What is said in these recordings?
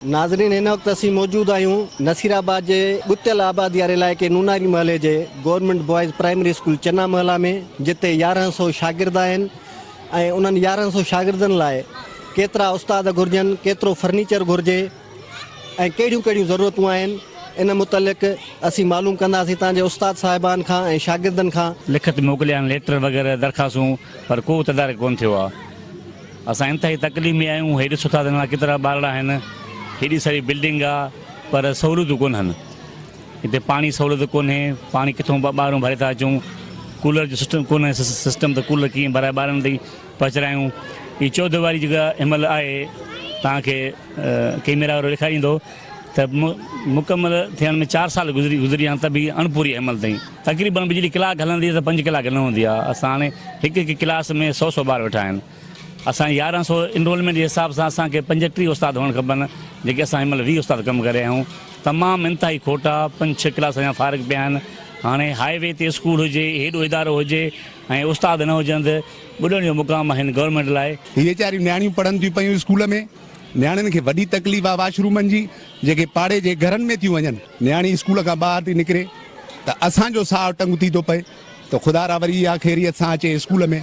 ناظرين هن وقت اسين موجود آهيون نصير آباد جي ڳتيل آبادي واري علائقي نوناري محلي جي گورنمينٽ بوائز پرائمري اسڪول چنا محلا ۾ جتي يارهن سو شاگرد آهن ۽ انهن يارهن سو شاگردن لاء ڪيترا استاد گهرجن ڪيترو فرنيچر گهرجي ۽ ڪهڙيون ڪهڙيون ضرورتون آهن ان متعلق اسين معلوم ڪنداسين تان جي استاد صاحبان کان ۽ شاگردن کان لکت موڪليا آهن ليٽر وغيره درخواستون پر ڪو تدارڪ ڪونه ٿيو آهي. اسان انتهائي تڪليف ۾ آهيون، هيڏي سٺا ته نوان ڪيترا ٻارڙا آهن، هيڏي ساري بلڊنگ آ پر سهوليتون ڪونهن، هتي پاڻي جي سهوليت ڪونهي، پاڻي ڪٿون ٻاهرون ڀري ٿا اچون، ڪولر جو سسٽم ڪونهي، سسٽم ته ڪولر ڪيئن ڀرائي ٻارڙن تائين پهچرايون، هي چوڌيواري جيڪا هن مهل آهي توهان کي ڪيميرا وارو ڏيکاريندو ته مڪمل ٿيڻ ۾ چار سال گذري گذري ويا آهن ته به هي اڻپوري آهي هن مهل تائين. تقريبن بجلي ڪلاڪ هلندي ته پنج ڪلاڪ نه هوندي آهي اسان هاڻي هڪ هڪ ڪلاس ۾ سؤ سؤ ٻار ويٺا آهن اسان جي يارهن سؤ انرولمينٽ جي حساب سان اسان کي پنجٽيهه استاد هئڻ کپن جيڪي اسان هن مهل ويهه استاد ڪم ڪري رهيا آهيون تمام انتهائي کوٽا پنج ڇهه ڪلاس اڃا فارغ پيا آهن هاڻي هاء وي تي اسڪول هجي هيڏو ادارو هجي ۽ استاد نه هجن ته ٻڏڻ جو مقام آهن گورنمينٽ لاء. ويچاريون نياڻيون پڙهن ٿيون پيون اسڪول ۾ نياڻين کي وڏي تڪليف آهي واش رومن جي جيڪي پاڙي جي گهرن ۾ ٿيون وڃن نياڻي اسڪول کان ٻاهر ٿي نڪري ته اسان جو ساهه ٽنگ ٿي ٿو پئي ته خدا را وري اها خيريت سان اچي اسڪول ۾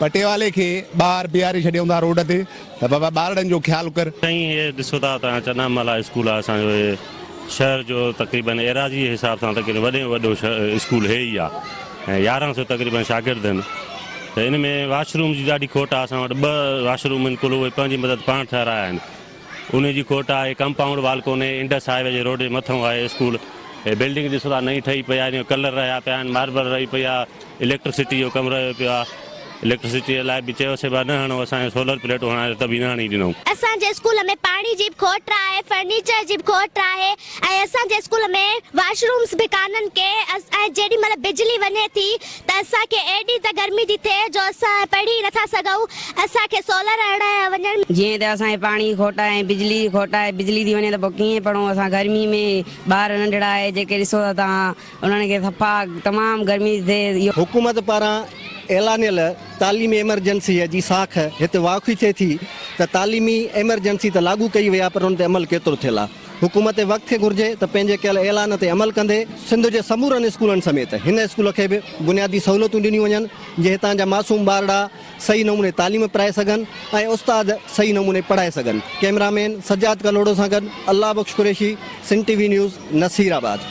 پٽيوالي کي ٻاهر بيهاري ڇڏيون ٿا روڊ تي ته بابا ٻارڙن جو خيال ڪر. سائين هي ڏسو ٿا ته چنا مالا اسڪول آهي اسان جو هي شهر جو تقريبن ايراضي جي حساب سان تقريبن وڏي ۾ وڏو اسڪول هي ئي آهي ۽ يارهن سو تقريبن شاگرد آهن ته ان ۾ واش روم جي ڏاڍي کوٽ آهي اسان وٽ ٻه واش روم آهن ڪل اهي پنهنجي مدد پاڻ ٺهرايا آهن انهي جي کوٽ آ اهي ڪمپائونڊ وال ڪونهي انڊس هاء وي جي روڊ جي مٿئون آهي اسڪول هي بلڊنگ ڏسو ٿا نئين ٺهي پئي آهي ان جو ڪلر رهيا پيا آهن ماربل رهي پئي آ اليڪٽرسٽي جو ڪم رهيو پيو آ اليڪٽرسٽي لاء به چيو سي به نه هڻو اسان کي سولر پليٽون هڻائي ته به نه هڻي ڏنو. اسان جي اسڪول ۾ پاڻي جي به کوٽ آهي فرنيچر جي به کوٽ آهي ۽ اسان جي اسڪول ۾ واشرومس به ڪانهن ڪي ۽ جيڏي مهل بجلي وڃي ٿي ته اسان کي ايڏي ته گرمي ٿي ٿئي جو اسان پڙهي ئي نٿا سگهون، اسان کي سولر هڻايا وڃن. جيئن ته اسان کي پاڻي کوٽ آهي ۽ بجلي جي کوٽ آهي، بجلي ٿي وڃي ته پوء ڪيئن پڙهون اسان گرمي ۾ ٻار ننڍڙا آهي جيڪي ڏسو ٿا توهان انهن کي صفا تمام گرمي ٿي ٿئي اهو. حڪومت پاران اعلانيل تعليمي ايمرجنسيء جي ساک هت واکوي ٿئي ٿي ته تعليمي ايمرجنسي ته لاڳو ڪئي وئي آهي پر ان تي عمل ڪيترو ٿيل آهي؟ حڪومت وقت کي گهرجي ته پنهنجي ڪيل اعلان تي عمل ڪندي سنڌ جي سمورن اسڪولن سميت هن اسڪول کي به بنيادي سهولتون ڏنيون وڃن جي هتان جا معصوم ٻارڙا صحيح نموني تعليم پرائي سگهن ۽ استاد صحيح نموني پڙهائي سگهن ڪئميرا مين سجاد ڪلهوڙو سان گڏ Allah Bakhsh Qureshi Sindh T V news Naseer آباد.